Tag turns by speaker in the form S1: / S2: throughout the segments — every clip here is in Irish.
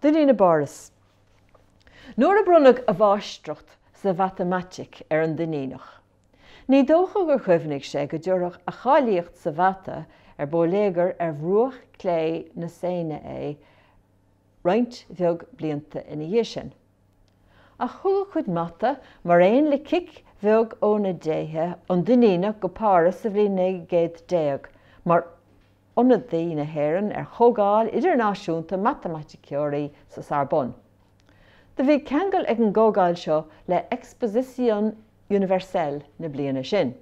S1: Duinnín i bPáras. Nuair a bronnadh a mháistreacht sa mhatamaitic ar an Duinníneach, ní dócha gur chuimhnigh sé go dtabharfadh a cháilíocht sa mhata ar bóiléagar ar bhruach clé na Seine é roinnt bheag blianta ina dhiaidh sin. Ach thug a chuid mata, mar aon le cic bheag ó na déithe, an Duinníneach go Páras sa bhliain 1900 mar ionadaí na hÉireann ar chomhdháil idirnáisiúnta matamaiticeoirí sa Sorbonne. Do bhí ceangal ag an gcomhdháil seo le Exposition Universelle na bliana sin.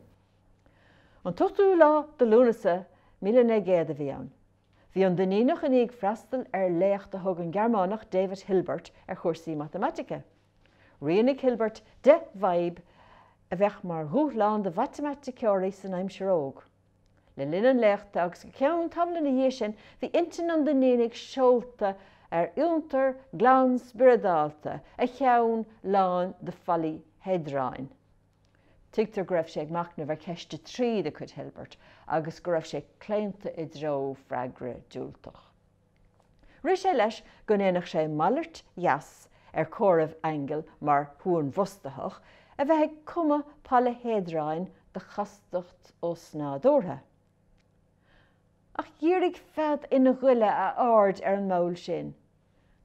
S1: An t-ochtú lá de Lúnasa míle naoi gcéad a bhí ann. Bhí an Duinníneach i ndiaidh freastal ar léacht a thug an Gearmánach David Hilbert ar chúrsaí matamaitice. Rianaigh Hilbert deich bhfadhb a bheadh mar dhúshlán do mhatamaiticeoirí san aimsir óg. Le linn an léachta agus go ceann tamaill ina dhiaidh sin, bhí intinn an Duinnínigh seolta ar fhiontar glan spioradálta, a cheann lán de pholaihéadráin. Tuigtear go raibh sé ag machnamh ar cheist a trí de chuid Hilbert agus go raibh sé claonta i dtreo freagra diúltach. Rith sé leis go ndéanfadh sé malairt dheas ar chomhaireamh aingil mar shuanbhrostaitheach, a bheith ag cumadh polaihéadráin de chastacht osnádúrtha. Ach dhírigh fead ina ghoile a aird ar an mball sin.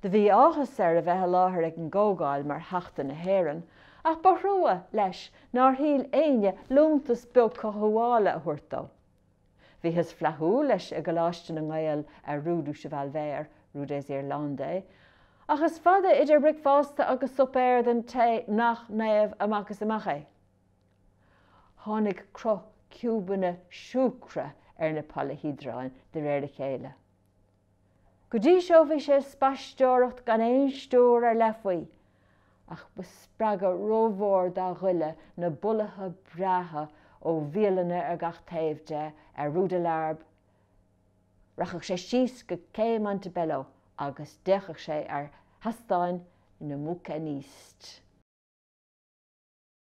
S1: Do bhí áthas air a bheith i láthair ag an gcomhdháil mar Theachta na hÉireann, ach ba thrua leis nár shíl éinne liúntas beag cothabhála a thabhairt dó. Bhíothas flaithiúil leis i gColáiste na nGael ar Rue du Cheval Vert, Rue des Irlandais, ach is fada idir bricfeasta agus suipéar don té nach naomh amach is amach é. Tháinig cruth ciúbanna siúcra ar na polaihéadráin de réir a chéile. Go dtí seo bhí sé ag spaisteoireacht gan aon stiúir ar leith faoi, ach ba spreagadh rómhór dá ghoile na bolaithe breátha ó bhialanna ar gach taobh de ar Rue de la Harpe. Rachadh sé síos go Cé Montebello agus d'fhéachfadh sé ar sheastáin na mbouquinistes.